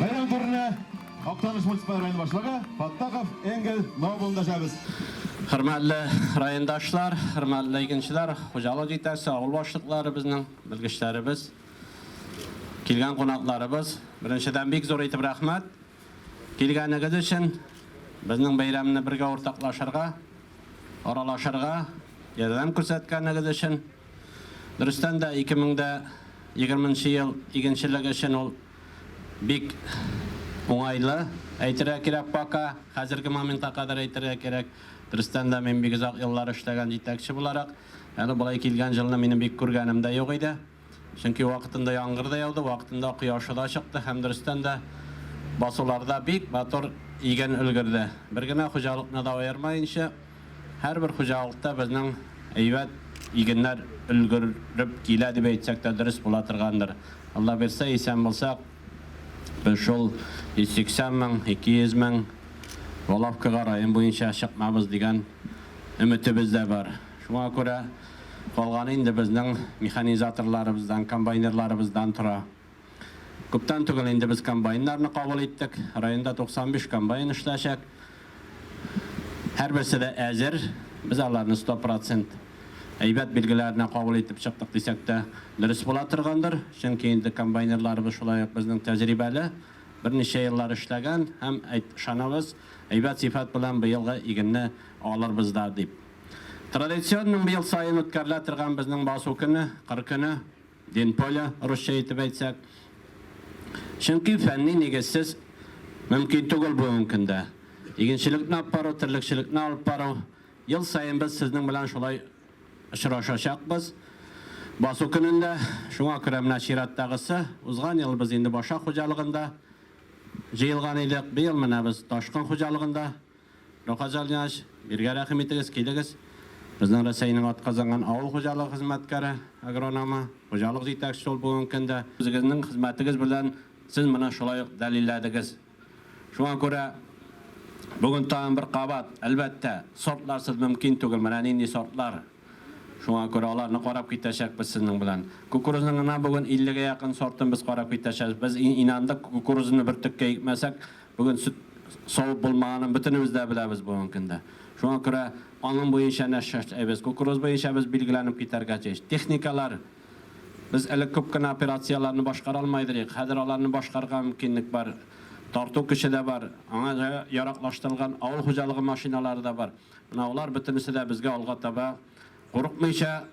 Бәйрәм турында Актаныш муниципаль районы башлыгы Фаттахов Энгель Нобелны дәшәбез. Хөрмәтле райондашлар, хөрмәтле игенчеләр, хуҗалык җитәкчесе, авыл башлыклары безнең, белгечләребез, килгән кунакларыбыз. Беренчедән бик зур итеп рәхмәт килгәнегез өчен, безнең бәйрәмне бергә уртаклашырга, аралашырга ярдәм күрсәткәнегез өчен. Дөрестән дә, 2020 нче ел игенчелек өчен ул бик уңайлы, әйтергә кирәк, пока, хәзерге моментка кадәр әйтергә кирәк. Дөрестән дә, мин бик озак еллар эшләгән җитәкче буларак, әле болай килгән җылны минем бик күргәнем дә юк иде. Чөнки вакытында яңгыр да яуды, вакытында кояшы да чыкты һәм дөрестән дә, басуларда бик матур иген өлгерде. Бер генә хуҗалыкны да аермаенча. Һәрбер хуҗалыкта безнең әйбәт игеннәр өлгереп килә дип әйтсәк тә дөрес була торгандыр. Алла бирсә, исән булсак, без шул 180 мең, 200 мең воловкага район буенча чыкмабыз дигән өметебез дә бар. Шуңа күрә калганы инде безнең механизаторларыбыздан, комбайнерларыбыздан тора. Күптән түгел инде без комбайннарны кабул иттек. Районда 95 комбайн эшләячәк. Һәрберсе дә әзер. Без аларны 100 процент әйбәт билгеләренә кабул итеп чыктык дисәк тә дөрес була торгандыр. Чөнки инде комбайнерларыбыз шулай ук безнең тәҗрибәле, берничә еллар эшләгән һәм, ышанабыз, әйбәт сыйфат белән быелгы игенне алырбыз да дип. Традиционның быел саен үткәрелә торган безнең басу көне, кыр көне. Динполе, русча итеп әйтсәк. Чөнки фәнни нигезсез мөмкин түгел бүгенге көндә. Игенчелекне алып бару, терлекчелекне алып бару. Ел саен без сезнең белән шулай очрашачакбыз. Басу көнендә. Шуңа күрә менә чираттагысы. Узган ел без инде Баша хуҗалыгында җыелган идек. Быел менә без Ташкын хуҗалыгында. Рокоделнияч, биргә рәхим итегез, килегез. Безнең Рәсәйнең атказанган авыл хуҗалыгы хезмәткәре, агрономы, хуҗалык җитәкчесе ул бүгенге көндә. Үзегезнең хезмәтегез белән сез моны шулай ук дәлилләдегез. Шуңа күрә бүген тагын бер кабат, әлбәттә, сортларсыз мөмкин түгел. Менә нинди сортлар! Шуңа күрә аларны карап китәчәкбез сезнең белән. Кукурузның гына бүген 50 гә якын сортын без карап китәчәкбез. Без инандык, кукурузны бөртеккә икмәсәк, бүген сөт савып булмаганын бөтенебез дә беләбез бүгенге көндә. Шуңа күрә аның буенча нәрсә эшләйбез? Кукуруз буенча без билгеләнеп китәргә тиеш. Техникалар, без элек күп кенә операцияләрне башкара алмый идек, хәзер аларны башкарырга мөмкинлек бар. Тарту көче дә бар, аңа яраклаштырылган авыл хуҗалыгы машиналары да бар. Менә алар бөтенесе дә безгә алга таба курыкмыйча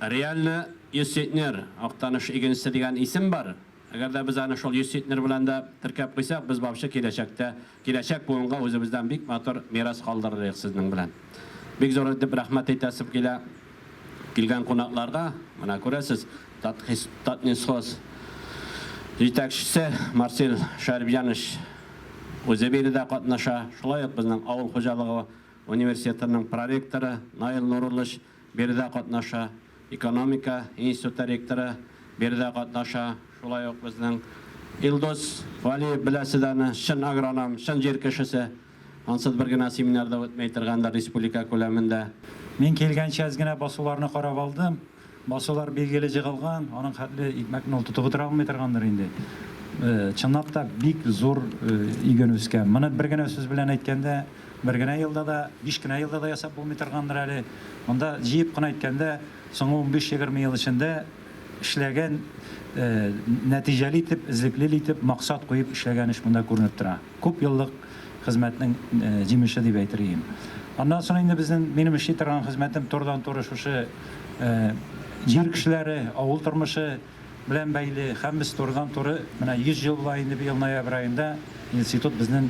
реально йөз центнер Актаныш игенчесе дигән исем бар. Әгәр дә без аны шул йөз центнер белән дә теркәп куйсак, без баучы киләчәктә, киләчәк буынга үзебездән бик матур мирас калдырыр идек сезнең белән. Бик зур итеп рәхмәт әйтәсем килә. Килгән кунакларга, менә күрәсез, Татнесхоз җитәкчесе Марсель Шәрипҗанович үзе биредә катнаша, шулай ук безнең авыл хуҗалыгы университетының проректоры Наил Нуруллович биредә катнаша, экономика институты ректоры биредә катнаша, шулай ук безнең Илдус Вәлиев, беләсез аны, чын агроном, чын җир кешесе. Ансыз бер генә семинар да үтмәй торгандыр республика күләмендә. Мин килгәнче әз генә басуларны карап алдым. Басулар билгеле җыгылган, аның хәтле икмәкне ул тотып утыра алмый торгандыр инде. Чынлап та бик зур иген үскән. Моны бер генә сүз белән әйткәндә, бер генә елда да, биш кенә елда да ясап булмый торгандыр әле. Монда җыеп кына әйткәндә, соңгы унбиш-егерме ел эчендә, эшләгән, нәтиҗәле итеп, эзлеклел итеп, максат куеп эшләгән эш монда күренеп тора. Күп еллык хезмәтнең җимеше дип әйтер ием. Аннан соң инде безнең, минем эшли торган хезмәтем турыдан-туры шушы җир кешеләре, авыл тормышы белән бәйле. Һәм без турыдан-туры менә 100 ел була инде быел ноябрь аенда. Институт безнен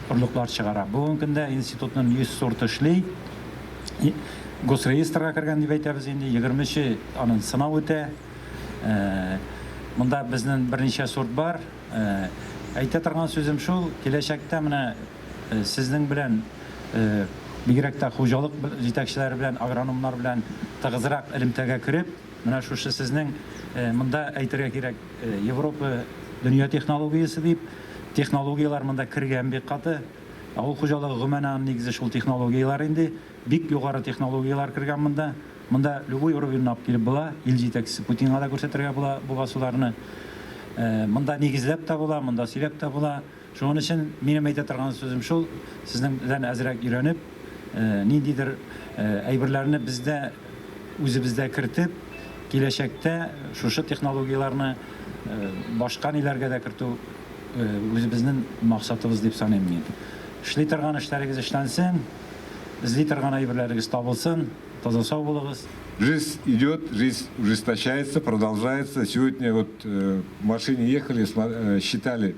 орлыклар чыгара. Бүгенге көндә институтнын 100 сорты эшли. Госреестрга кергән дип әйтәбез инде, егерме чы анын сынау үтә. Монда безнен берничә сорт бар. Әйтә торган сүзем шул, киләчәктә менә сезнең белән, бигрәк тә хуҗалык җитәкчеләре белән, агрономнар белән тыгызрак элемтәгә кереп, Менә шушы сезнең, монда әйтергә кирәк, Европа дөнья технологиясе дип, технологияләр монда кергән бик каты. Авыл хуҗалыгы гомумән аның нигезе шул технологияләр инде. Бик югары технологияләр кергән монда. Монда любой уровеньны алып килеп була. Ил җитәкчесе Путинга да күрсәтергә була бу басуларны. Монда нигезләп тә була, монда сөйләп тә була. Шуның өчен минем әйтә торган сүзем шул, сезнең дән әзрәк өйрәнеп, ниндидер әйберләрне бездә, үзебездә кертеп, киләчәктә шушы технологияләрне башка ниләргә дә кертү үзебезнең максатыбыз дип саныйм мин. Эшли торган эшләрегез эшләнсен, эзли торган әйберләрегез табылсын, таза-сау булыгыз! Жизнь идет, жизнь ужесточается, продолжается. Сегодня вот в машине ехали, считали.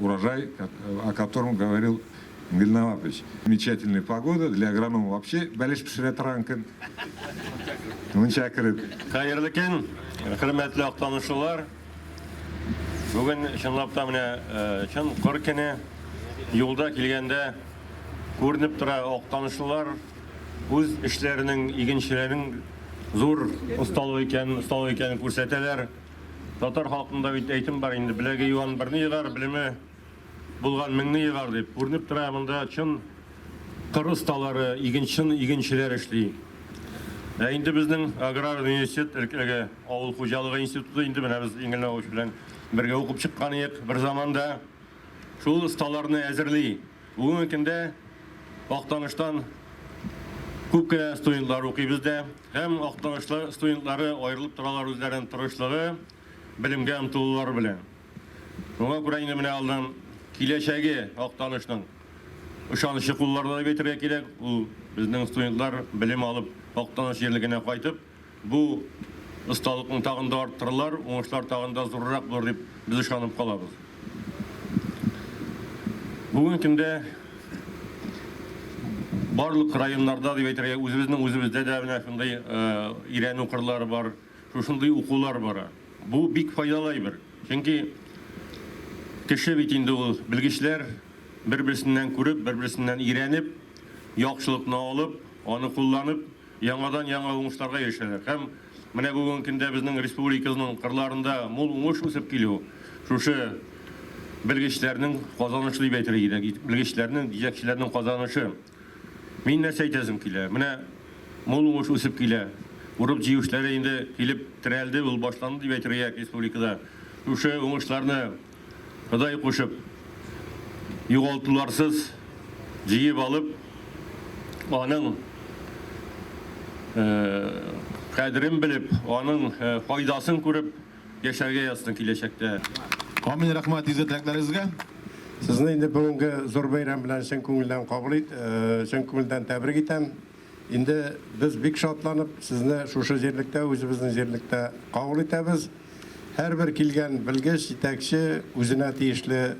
Урожай, о котором говорил Вильнаватович. Замечательная погода, для агронома вообще бәлеш пешерә торган көн. Мунча кереп. Хәерле көн, хөрмәтле актанучылар. Бүген чынлап та менә чын кыр көне. Юлда килгәндә күренеп тора актанучылар үз эшләренең, игенчеләрнең зур осталыгы икәнен күрсәтәләр. Татар халкында бит әйтем бар инде, беләге юан берне егар, белеме булган меңне егар дип. Күренеп тора, монда чын кыр осталары, игенчен игенчеләр эшли. Ә инде безнең аграр университет әлеге авыл хуҗалыгы институты инде менә без Иңел Навович белән бергә укып чыккан идек бер заманда. Шул осталарны әзерли. Бүгенге көндә Актаныштан күп кенә студентлар укый бездә. Һәм Актанышлы студентлары аерылып торалар үзләренең тырышлыгы, белемгә омтылулары белән. Шуңа күрә инде менә алдан киләчәге Актанышның ышанычы кулларда дип әйтергә кирәк. Ул безнең студентлар белем алып Актаныш җирлегенә кайтып, бу осталыкны тагын да арттырырлар, уңышлар тагын да зуррак булыр дип без ышанып калабыз. Бүгенге көндә барлык районнарда дип әйтергә, үзебезнең үзебездә дә менә шундый өйрәнү кырлары бар, шушындый укулар бара. Бу бик файдалы әйбер. Чөнки кеше бит инде ул белгечләр бер-берсеннән күреп, бер-берсеннән өйрәнеп, яхшылыкны алып, аны кулланып, яңадан-яңа уңышларга ирешәләр һәм менә бүгенге көндә безнең республикабызның кырларында мул уңыш үсеп килү шушы белгечләрнең казанышы дип әйтергә кирәк, белгечләрнең, җитәкчеләрнең казанышы. Мин нәрсә әйтәсем килә? Менә мул уңыш үсеп килә. Урып-җыю эшләре инде килеп терәлде, ул башланды дип әйтергә республикада. Шушы уңышларны Ходай кушып, югалтуларсыз җыеп алып, аның кадерен белеп, аның файдасын күреп яшәргә язсын киләчәктә. Амин, рәхмәт изге теләкләрегезгә. Сезне инде бүгенге зур бәйрәм белән чын күңелдән кабул ит, чын күңелдән тәбрик итәм. Инде без бик шатланып сезне шушы җирлектә, үзебезнең җирлектә кабул итәбез. Һәрбер килгән белгеч, җитәкче үзенә тиешле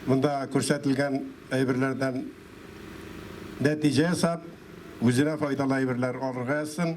монда күрсәтелгән әйберләрдән нәтиҗә ясап, үзенә файдалы әйберләр алырга язсын.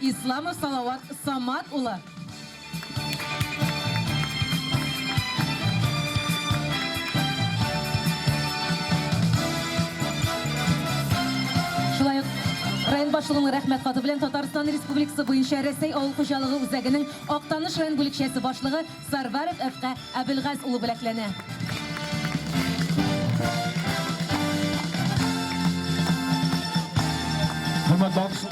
Исламов Салават Самат улы. Шулай ук район башлыгының Рәхмәт хаты белән Татарстан Республикасы буенча Рәсәй авыл хуҗалыгы үзәгенең Актаныш район бүлекчәсе башлыгы Сарваров Ф-га Әбелгаз улы бүләкләнә. Хөрмәтле алкыш,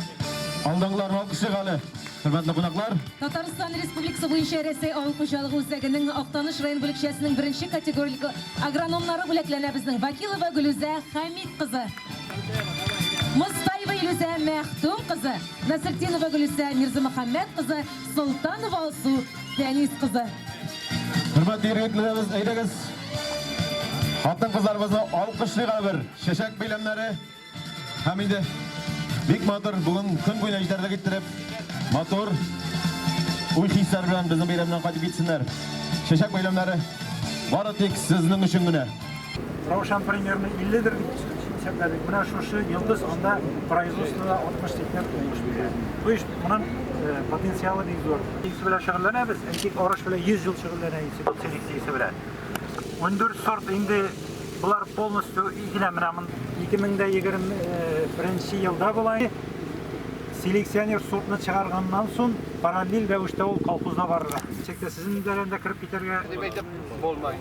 алдагыларны алкышлыйк әле, хөрмәтле кунаклар. Татарстан Республикасы буенча Рәсәй авыл хуҗалыгы үзәгенең Актаныш район бүлекчәсенең беренче категориле агрономнары бүләкләнә безнең Вакилова Гөлүзә Хәмит кызы, Мостаева Илүзә Мәхтүм кызы, Насретдинова Гөлүсә Мирзамөхәммәт кызы, Солтанова Алсу Фәнис кызы. Хөрмәтле ир-егетләребез, әйдәгез, хатын-кызларыбызны алкышлыйк әле бер. Чәчәк бәйләмнәре һәм инде бик матур бүген көн буена җитәрлек иттереп, матур уй-хисләр белән безнең бәйрәмнән кайтып китсеннәр. Чәчәк бәйләмнәре бары тик сезнең өчен генә. Раушан примерно 50 дер дип исәпләдек. Менә шушы йолдыз анда производствода 60-80 тулмыш бирә. То есть монын э, потенциалы бик зур. Исе белән шөгыльләнәбез. Әйтик, арыш белән 100 ел шөгыльләнә исе, селекция исе белән. 14 сорт инде Булар полностью игелә менә мын 2021 елда була. Селекционер сортны чыгарганнан соң параллель рәвештә ул колхозда барырга. Чекте сезнең дәрәндә кереп китәргә дип әйтеп булмай.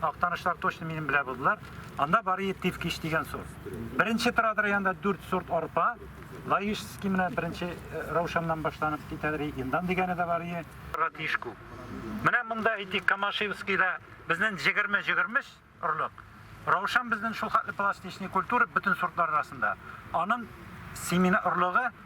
Актанышлар точно минем белә булдылар. Анда бары тиф кич дигән сорт. Беренче торадыр янда 4 сорт арпа. Лаишский менә беренче э, раушаннан башланып китәдер. Индан дигәне дә бар ие. Радишку. Менә монда ити Камашевскийда безнең 20-23 орлык. Раушан безнең шул хатлы пластичный культура бөтен сортлар арасында. Аның семена орлыгы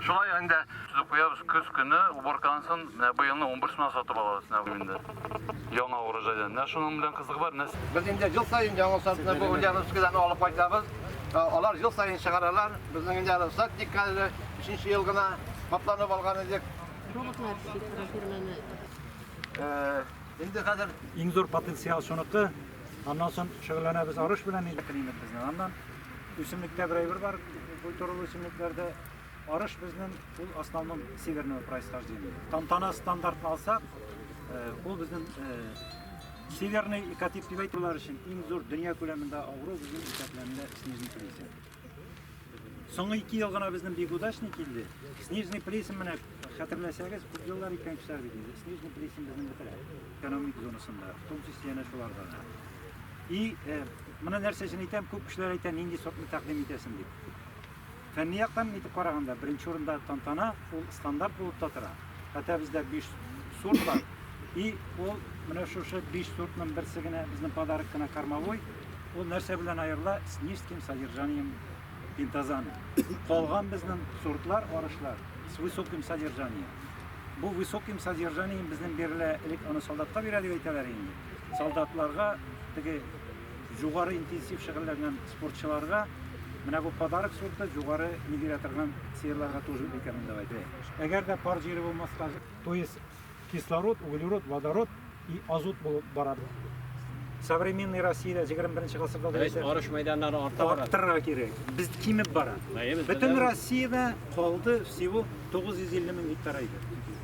Шулай инде сүзеп куябыз, көз көне уборканысын менә быелны унберсенә сатып алабыз менә бу инде. Яңа урожайдан. Менә шуның белән кызыгы бар, менә Без инде ел саен яңа сортны бу Ульяновскидан алып кайтабыз. Ә, Алар ел саен чыгаралар. Безнең инде әле сад диккәле, өченче ел гына капланып алган идек. Роботлар эшли, фирманы. Э, Инде хәзер Иң зур потенциал шуныкы, Аннан соң шөгыльләнәбез арыш белән инде климат безнең. Аннан үсемлектә бер әйбер бар, культуралы үсемлекләрдә арыш безнең ул основном северного происхождения. Тантана стандартын алсак, э, ул безнең э, северный экотип дип әйтүләр өчен иң зур дөнья күләмендә авыру безнең исәпләнелә снежный кризис. Соңгы ике ел гына безнең бик удачный килде. Снежный Плесен менә хәтерләсәгез, күп еллар икән кешеләр бит инде. Снежный Плесен безнең бетерә экономик зонасында, в том числе янә шуларда да. И э, моны нәрсә өчен әйтәм, күп кешеләр әйтә, нинди сортны тәкъдим итәсең дип. Фәнни яктан итеп караганда, беренче урында тантана, ул стандарт булып та тора. Хәтта бездә биш сорт бар. И ул менә шушы биш сортның берсе генә безнең подарок кына кормовой. Ул нәрсә белән аерыла? С низким содержанием пентазана. Калган безнең сортлар, арышлар с высоким содержанием. Бу высоким содержанием безнең бирелә элек аны солдатка бирә дип әйтәләр инде. Солдатларга теге Югары интенсив шөгыльләнгән спортчыларга менә бу подарок сорты югары ни бирә торган сыерларга тоже икәнен дип әйтә. Әгәр дә пар җире булмаска, то есть кислород, углерод, водород и азот булып бара. Современный Россиядә 21 гасырда да исә арыш мәйданнары арта бара. Арттырырга кирәк. Без кимеп бара. Бөтен Россиядә калды всего 950 мең гектар иде.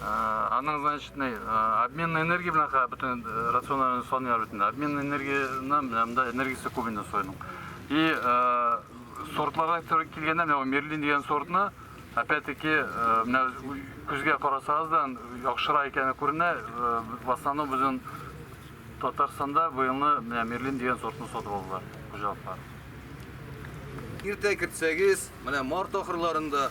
Аның, значит, не, обменный энергия белән ха бөтен рационнарны саныйлар бөтен. Обменный энергияны менә монда энергиясе күп инде соеның. И сортларга туры килгәндә, менә мерлин дигән сортны, опять-таки, менә күзгә карасагыз да яхшыра икәне күренә, в основном безнең Татарстанда быелны менә мерлин дигән сортны сатып алдылар хуҗалыклар. Иртә кертсәгез, менә март ахырларында